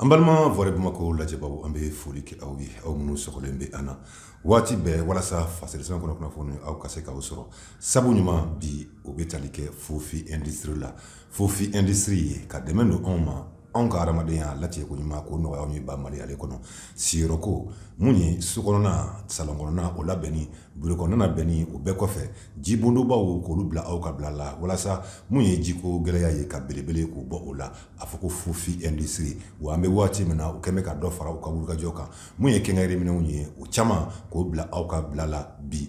an balima vɔrɛ bamako lajɛbaw an bɛ foli kɛ aw ye aw minnu sɔgɔlen bɛ an na waati bɛɛ walasa fasiri sɛbɛn kɔnɔ kunnafoni aw ka se k'u sɔrɔ sabu ɲuman bi o bɛ tali kɛ Fofy Industrie la Fofy Industrie y'a ka dɛmɛ don anw ma anw ka adamadenya latigɛ ko ɲuman k'o nɔgɔya an ba mali ale kɔnɔ siyɔrɔ ko mun ye so kɔnɔna salon kɔnɔna o labɛnni buro kɔnɔna labɛnni o bɛɛ kɔfɛ jibondobaw k'olu bila aw ka bila la walasa mun ye jiko gɛlɛya ye ka belebele k'o bɔ o la a fɔ ko Fofy Industrie wa an bɛ waati min na u kɛmɛ ka dɔ fara u ka wulikajɔ kan mun ye quincaillerie minɛnw ye o caman k'o bila aw ka bila la bi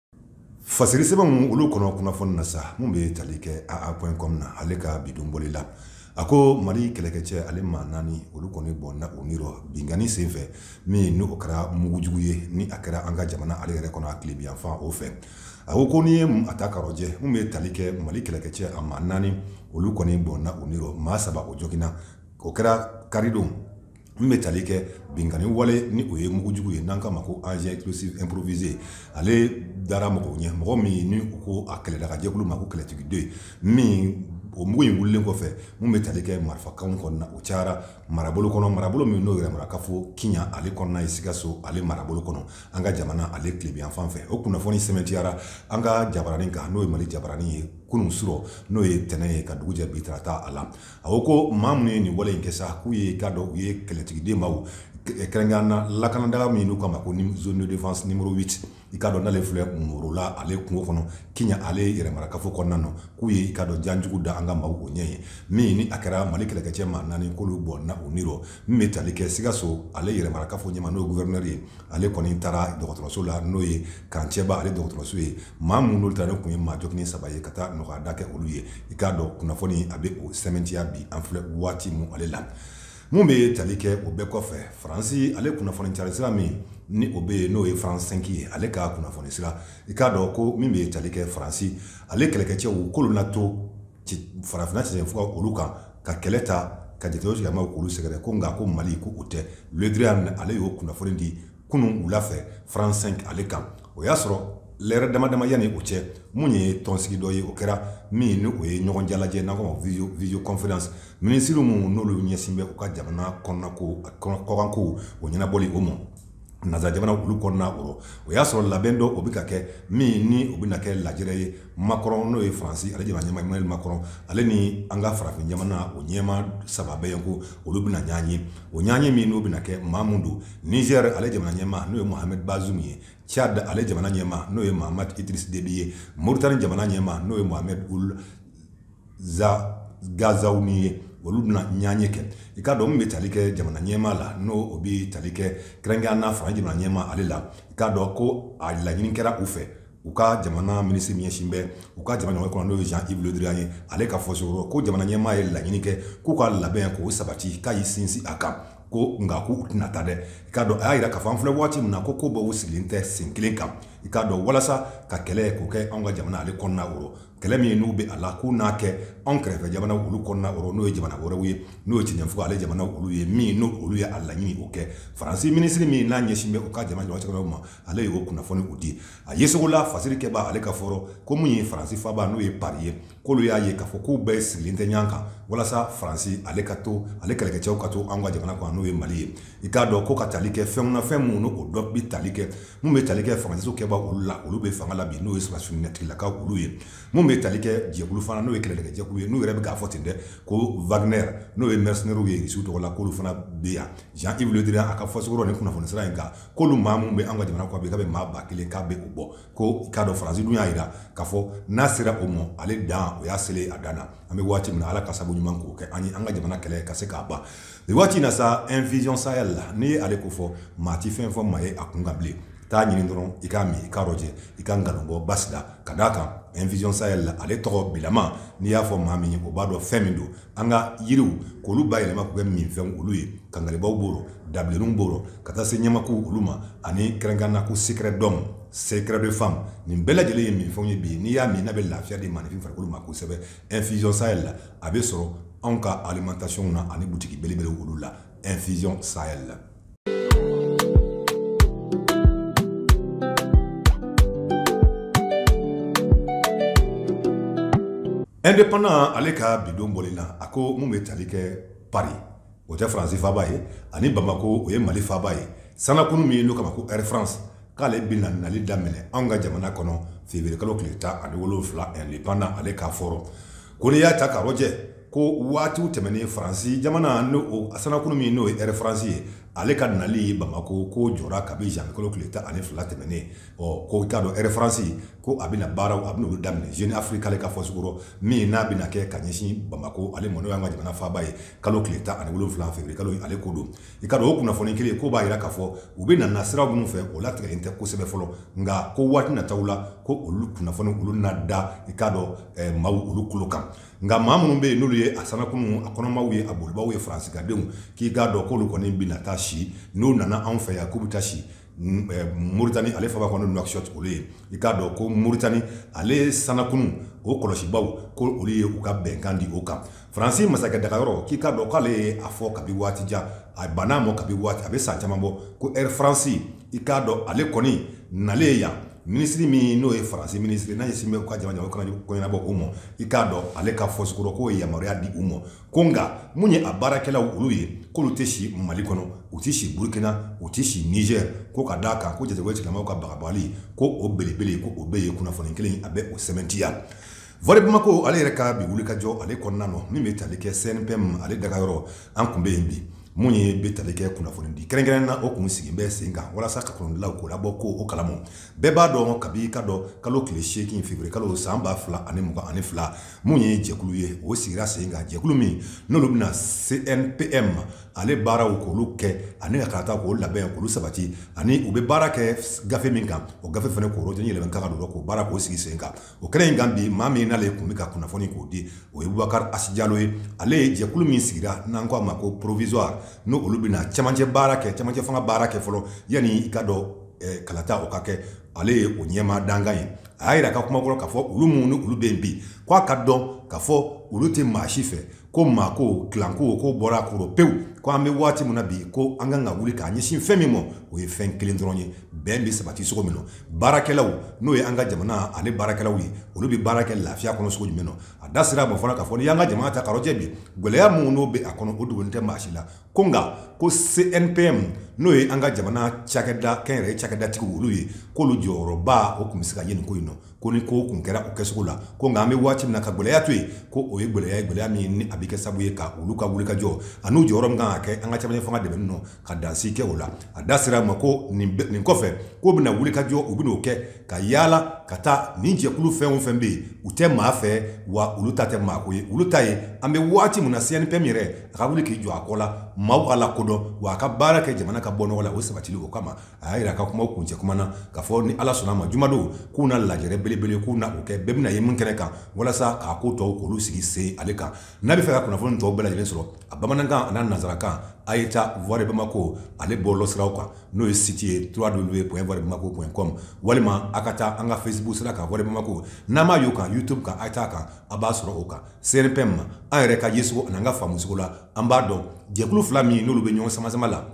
fasiri sɛbɛnw olu kɔnɔ kunnafoni na sa min bɛ tali kɛ aa point com na ale ka bi don bɔli la a ko mali kɛlɛkɛcɛ ale maa naani olu kɔni bɔnɛna u ni rɔ binkanni senfɛ min n' o kɛra mugujugu ye ni a kɛra an ka jamana ale yɛrɛ kɔnɔ a tilebiyanfan o fɛ a ko ko n'i ye a ta k'a rɔjɛ min bɛ tali kɛ mali kɛlɛkɛcɛ a maa naani olu kɔni bɔnɛna u ni rɔ maa saba o joginna o kɛra karidon min bɛ tali kɛ binkanni wale ni o ye mugujugu ye n'an k'a ma ko engin explosif improvisé ale dara mɔgɔw ɲɛ mɔgɔ min ni ko a kɛlɛdagajɛkulu ma ko kɛlɛtigiden min o mugu in wililen kɔfɛ min bɛ tali kɛ marifakan kɔnɔna o cayara marabolo kɔnɔ marabolo min n'o yɛrɛmarakafo kiɲa ale kɔnɔna ye sikaso ale marabolo kɔnɔ an ka jamana ale tilebyan fan fɛ o kunnafoni sɛmɛtiyara an ka jabaranin kan n'o ye mali jabaranin ye kunun su rɔ n'o ye tɛnɛn ye ka dugu jɛ bi tarata a la a ko ko maa minnu ye nin wale in kɛ sa k'u ye i k'a dɔn u ye kɛlɛtigiden maaw kɛrɛnkɛ na lakanadaga min n'u k'a ma ko zone de défense numéro 8 i k'a dɔn n'ale filɛ morola ale kungo kɔnɔ kiɲa ale yɛrɛmarakafo kɔnɔna na k'u ye i k'a dɔn jan jugu da an ka maaw o ɲɛ ye min ni a kɛra mali kɛlɛkɛcɛ maa naani k'olu bɔnɛna u ni rɔ min bɛ tali kɛ sikaso ale yɛrɛmarakafo ɲɛmaa n'o ye gouverneur ye ale kɔni taara dɔgɔtɔrɔso la n'o ye camp Tiéba ale dɔgɔtɔrɔso ye Maa minnu ta ne tun ye maa joginnen saba ye ka taa nɔgɔyada kɛ olu ye i k'a dɔn kunnafoni a bɛ o sɛmɛtiya bi an filɛ waati min ale la min bɛ tali kɛ o bɛɛ kɔfɛ faransi ale kunnafoni cari sira min ni o bɛ yen n'o ye France 5 ye ale ka kunnafoni sira i k'a dɔn ko min bɛ tali kɛ faransi ale kɛlɛkɛcɛw k'olu na to farafinna sen fɔ olu kan ka kɛlɛ ta ka jate sigi ma olu sɛgɛrɛ ko nka ko mali ko u tɛ Le Drian ale y'o kunnafoni di kunun wula fɛ France 5 ale kan o y'a sɔrɔ lɛrɛ dama dama yanni o cɛ min ye tɔnsigi dɔ ye o kɛra min ni o ye ɲɔgɔn jalajɛ n'an ko vidéo conférence minisiriw minnu n'olu ɲɛsin bɛ u ka jamana kɔnɔnako kɔkanko o ɲɛnabɔli o ma nansara jamana olu kɔnɔna o rɔ o y'a sɔrɔ labɛn dɔ o bɛ ka kɛ min ni o bɛna kɛ lajɛrɛ ye Macron n'o ye faransi ale jamana ɲɛmaa Emmanuel Macron ale ni an ka farafin jamana o ɲɛmaa saba bɛ yen ko olu bɛna ɲɔgɔn ye o ɲɔgɔnye min n'o bɛna kɛ maa minnu don Niger ale jamana ɲɛmaa n'o ye Mohamed Bazoum ye Tchad ale jamana ɲɛmaa n'o ye Mahamat Idriss Déby ye Mauritanie jamana ɲɛmaa n'o ye Mohamed Ould Ghazouani ye olu bɛna ɲɔgɔnye kɛ i k'a dɔn min bɛ tali kɛ jamana ɲɛmaa la n'o bɛ tali kɛ kɛrɛnkɛrɛnnenya na faransi jamana ɲɛmaa ale la i k'a dɔn ko a laɲini kɛra u fɛ u ka jamana minisiri min ɲɛsin bɛ u ka jamana ɲɔgɔn kɔnɔ n'o ye Jean Yves Le Drian ye ale ka fɔcogo rɔ ko jamana ɲɛmaa ye laɲini kɛ k'u ka labɛn k'o sabati k'a y'i sinsin a kan ko nka k'u tɛna taa dɛ i k'a dɔn a y'a jira k'a fɔ an filɛ waati min na ko ko bɛɛ u sigilen tɛ sen kelen kan i k'a dɔn walasa ka kɛlɛ k'o kɛ anw ka jamana ale kɔnɔna o kɛlɛ min ye n'u bɛ a la k'u n'a kɛ anw kɛrɛfɛ jamana olu kɔnɔna o rɔ n'o ye jamana wɛrɛw ye n'o ye cɛnfuga ale jamana olu ye min ni olu ye a laɲini o kɛ faransi minisiri min n'a ɲɛsin bɛ u ka jamana jɔyɔrɔ ma ale ye o kunnafoniw di a yecogo la fasirikɛbaa ale ka fɔ rɔ ko min ye faransi faaba n'o ye paris ye k'olu y'a ye k'a fɔ k'u bɛɛ sigilen tɛ ɲɔgɔn kan walasa faransi ale ka to ale kɛlɛkɛcɛw ka to an ka jamana kan n'o ye mali ye i k'a dɔn ko ka tali kɛ fɛn na fɛn minnu o dɔ bɛ tali kɛ minnu bɛ tali kɛ transition kɛbaa olu la olu bɛ fanga la bi n'o ye sɔrɔsitigilaka olu ye minnu bɛ tali kɛ jɛkulu fana n'o ye kɛlɛkɛjɛkulu ye n'u yɛrɛ bɛ k'a fɔ ten dɛ ko Wagner n'o ye mercenairew ye su tɔgɔ la k'olu fana bɛ yan Jean Yves Le Drian a ka fɔcogo rɔ nin kunnafoni sira in kan k'olu maa minnu bɛ an ka jamana kɔ bi ka bɛ maa ba kelen k'a bɛ u bɔ ko i k'a dɔn faransi dun y'a jira k'a fɔ n'a sera o ma ale dan o y'a seli a dan an bɛ waati min ala ka sababu ɲuman k'o kɛ an ye an ka jamana kɛlɛ ka se ka ban Waati na sa infusion sahel la n'i ye ale ko fɔ maa tɛ fɛn fɔ maa ye a kunkan bilen taa ɲini dɔrɔn i k'a min i k'a rɔjɛ i ka nkabɔ basi la ka d'a kan infusion sahel la ale tɔgɔ bilama n'i y'a fɔ maa min ye o b'a dɔn fɛn min don an ka yiriw k'olu bayɛlɛma k'u kɛ minfɛn olu ye kangalibaw b'o rɔ dabilenninw b'o rɔ ka taa se ɲamaku olu ma ani kɛrɛnkɛrɛnnenya na ko secret d'homme secret de femme nin bɛɛ lajɛlen ye minfɛn ye bi n'i y'a min a bɛ lafiya di maaninfin farikolo ma kosɛbɛ infusion sahel la a bɛ sɔrɔ anw ka alimentation na ani butigi belebele olu la infusion sahel la indépendant ale ka bi don bɔli la a ko min bɛ tali kɛ paris o tɛ faransi faaba ye ani bamakɔ o ye mali faaba ye sannakurun min don kama ko air france k'ale bɛna nali daminɛ anw ka jamana kɔnɔ feburuyekalo tile tan ani wolonwula indépendant ale ka fɔ rɔ ko n'i y'a ta k'a lajɛ ko waati tɛmɛnen faransi jamana n'o sannakurun min n'o ye air france ye ale ka nali bamakɔ k'o jɔra kabi zanwuyekalo tile tan ani fila tɛmɛnen ko i k'a dɔn air france ko a bɛna baaraw a bɛna olu daminɛ jeune afrique ale ka fɔcogo rɔ min n'a bɛna kɛ ka ɲɛsin bamakɔ ale ma n'o y'an ka jamana faaba ye kalo tile tan ani wolonwula février kalo ale ko don i k'a dɔn o kunnafoni kelen ko b'a jira k'a fɔ u bɛ na sira minnu fɛ o latigɛlen tɛ kosɛbɛ fɔlɔ nka ko waati nataw la ko olu kunnafoni olu na da i k'a dɔn eh, maaw olu kulo kan nka maa minnu bɛ yen n'olu ye a sannakurunw a kɔnɔmaw ye a bolibaw ye faransikadenw k'i k'a dɔn k'olu kɔni bɛ na taa si n'u nana anw fɛ yan k'u bɛ taa si Moritani ale faaba kɔnɔ Nouakchott olu ye i k'a dɔn ko Moritani ale ye sannakurun o kɔlɔsibaw ko olu ye u ka bɛnkan di o kan faransi masakɛ dagayɔrɔ k'i k'a dɔn k'ale ye a fɔ kabi waati jan a banna a ma kabi waati a bɛ san caman bɔ ko Air France i k'a dɔn ale kɔni nalen yan minisiri min n'o ye faransi minisiri n'a ɲɛsin bɛ u ka jamana o kana ko ɲɛnabɔ o ma i k'a dɔn ale ka fɔsikɔrɔ k'o ye yamaruya di u ma Ko nka mun ye a baarakɛlaw olu ye k'olu tɛ si mali kɔnɔ u tɛ si burukina u tɛ si nizɛr ko ka d'a kan ko jatigɛwale tigilamaw ka bagabali ko o belebele ko o bɛɛ ye kunnafoni kelen a bɛ o sɛmɛntiya Voix de Bamako ale yɛrɛ ka bi wulikajɔ ale kɔnɔna na min bɛ tali kɛ CNPM ale dagayɔrɔ an kun bɛ yen bi mun ye bɛ tali kɛ kunnafoni di kɛrɛnkɛrɛnnen na o kun sigi bɛ sen kan walasa ka kunnafonidilaw k'olu bɔ ko o kalama bɛɛ b'a dɔn kabi i k'a dɔn kalo tile seegin février kalo san ba fila ani mugan ani fila mun ye jɛkulu ye o sigira sen kan jɛkulu min n'olu bɛna CNPM ale baaraw k'olu kɛ ani ka kalata k'o labɛn k'olu sabati ani u bɛ baara kɛ gafe min kan o gafe fana k'o rɔjɔsi yɛlɛma ka kan ka don o la k'o baara k'o sigi sen kan o kɛnɛ in kan bi maa min n'ale kun bɛ ka kunnafoni k'o di o ye Bubakari Asi Jalo ye ale ye jɛkulu min sigira n'an k'a ma ko provisoire n'o olu bɛna cɛmancɛ baara kɛ cɛmancɛ fanga baara kɛ fɔlɔ yanni i k'a dɔn kalata o ka kɛ ale ye o ɲɛmaa dankan ye a y'a yira ka kuma kɔrɔ k'a fɔ olu minnu ni olu bɛ yen bi ko a k'a dɔn k'a fɔ olu tɛ maa si fɛ ko maa ko kilanko ko bɔra a kɔrɔ pewu ko an bɛ waati min na bi ko an kan ka wuli k'a ɲɛsin fɛn min ma o ye fɛn kelen dɔrɔn ye bɛn bɛ sabati sogo min na baarakɛlaw n'o ye an ka jamana ale baarakɛlaw ye olu bɛ baara kɛ lafiya kɔnɔ sogo jumɛn na a da sera a ma fana k'a fɔ n'i y'an ka jamana ta k'a rɔjɛ bi gɛlɛya minnu n'o bɛ a kɔnɔ o dogolen tɛ maa si la ko nka ko CNPM n'o ye an ka jamana cakɛda kɛnyɛrɛye cakɛdatigiw olu ye k'olu jɔyɔrɔba o kun bɛ se ka ye nin ko in nɔ ko ni ko kun kɛra o kɛsogo la ko nka an bɛ waati min na ka gɛlɛya to yen ko o ye gɛlɛya ye gɛlɛya min ni a bɛ kɛ sababu ye ka olu ka wulikajɔ an'u jɔyɔrɔ min kan ka kɛ an ka cɛmancɛ fanga dɛmɛni nɔ ka dansigi kɛ o la a da sera a ma ko nin kɔfɛ k'o bɛna wulikajɔ u bɛn'o kɛ ka yaala ka taa nin jɛkulu fɛn o fɛn bɛ yen u tɛ maa fɛ wa olu ta tɛ maa ko ye olu ta ye an bɛ waati min na CNPM yɛrɛ a ka wuli k'i jɔ a kɔ la maaw ka a lakodɔn wa a ka baara kɛ jamana ka bɔ nɔgɔ la o sabatili o kama a y'a yira a ka kuma kuncɛ kuma na k'a fɔ ni ala sɔnna a ma jumadon k'u na lajɛrɛ belebele k'u na o kɛ bɛɛ bɛna ye min kɛnɛ kan walasa ka ko tɔw k'olu sigi sen ale kan n'a bɛ fɛ ka kunnafoni tɔw bɛɛ lajɛlen sɔrɔ a bamanankan n'a nanzarakan a ye taa Voix de Bamako ale bɔlɔlɔ siraw kan n'o ye site ye www.voabamako.com walima a ka taa an ka Facebook sira kan voa bamako n'an m'a y'o kan YouTube kan a' t'a kan a b'a sɔrɔ o kan CNPM an yɛrɛ ka yecogo an'an ka faamucogo la an b'a dɔn jɛkulu fila min n'olu bɛ ɲɔgɔn samasama la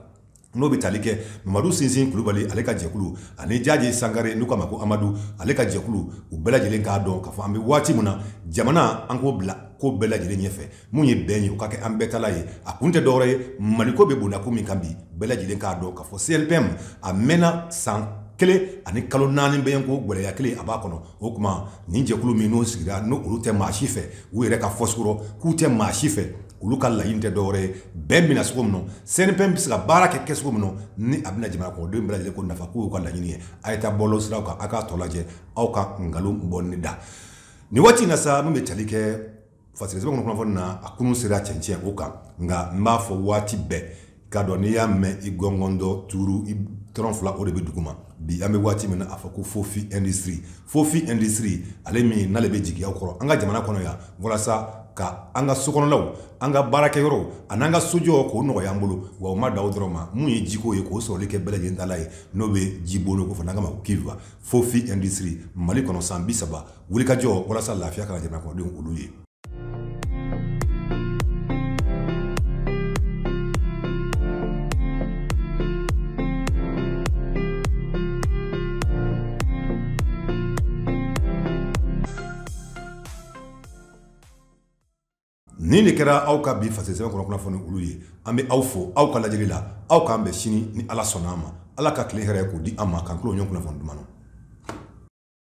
n'o bɛ tali kɛ mamadu sinsin kulubali ale ka jɛkulu ani jaje sankare n'u k'a ma ko amadu ale ka jɛkulu u bɛɛ lajɛlen k'a dɔn k'a fɔ an bɛ waati min na jamana an k'o bila ko bɛɛ lajɛlen ɲɛfɛ min ye bɛn ye o ka kɛ an bɛɛ tala ye a kun tɛ dɔwɛrɛ ye maliko bɛ bonyako min kan bi bɛɛ lajɛlen k'a dɔn k'a fɔ CNPM a mɛnna san kelen ani kalo naani bɛ yen ko gɛlɛya kelen a b'a kɔnɔ o tuma nin jɛkulu min n'o sigira n'olu tɛ maa si fɛ u yɛrɛ ka fɔcogo rɔ k'u tɛ maa si fɛ olu ka laɲini tɛ dɔwɛrɛ ye bɛn bɛ na cogo min CNPM bɛ se ka baara kɛ cogo min ni a bɛna jamana kɔnɔdenw bɛɛ ko nafa k'o y'u ka laɲini ye a ye taa bɔlɔ siraw kan aw k'a tɔ lajɛ aw ka nkalon bɔ ne da nin waati in na sa min bɛ tali kɛ fasiri sɛbɛn kɔnɔ kunnafoni na a kunun sera cɛncɛn o kan nka n b'a fɔ waati bɛɛ k'a dɔn n'i y'a mɛn i gɔngɔn dɔ tuuru i tɔrɔn fila o de bɛ duguma bi an bɛ waati min na a fɔ ko fofy industrie fofy industrie ale min n'ale bɛ jigiya kɔrɔ an ka jamana kɔnɔ yan walasa ka an ka sokɔnɔlaw an ka baarakɛyɔrɔw ani an ka sojɔ k'o nɔgɔya an bolo wa u ma dan o dɔrɔn ma min ye jiko ye k'o sɔrɔli kɛ bɛɛ lajɛlen tala ye n'o bɛ ji bolo ko fɔ n'an k'a ma cuve fofy industrie mali kɔnɔ san bi saba wulikajɔ walasa lafiya ka na jamana kɔnɔdenw olu ye nin de kɛra aw ka bi fasiri sɛbɛn kɔnɔ kunnafoni olu ye an bɛ aw fo aw ka lajɛli la aw k'an bɛn sini ni ala sɔnna a ma ala ka tile hɛrɛ k'o di an ma k'an tulo ɲɔgɔn kunnafoni duman na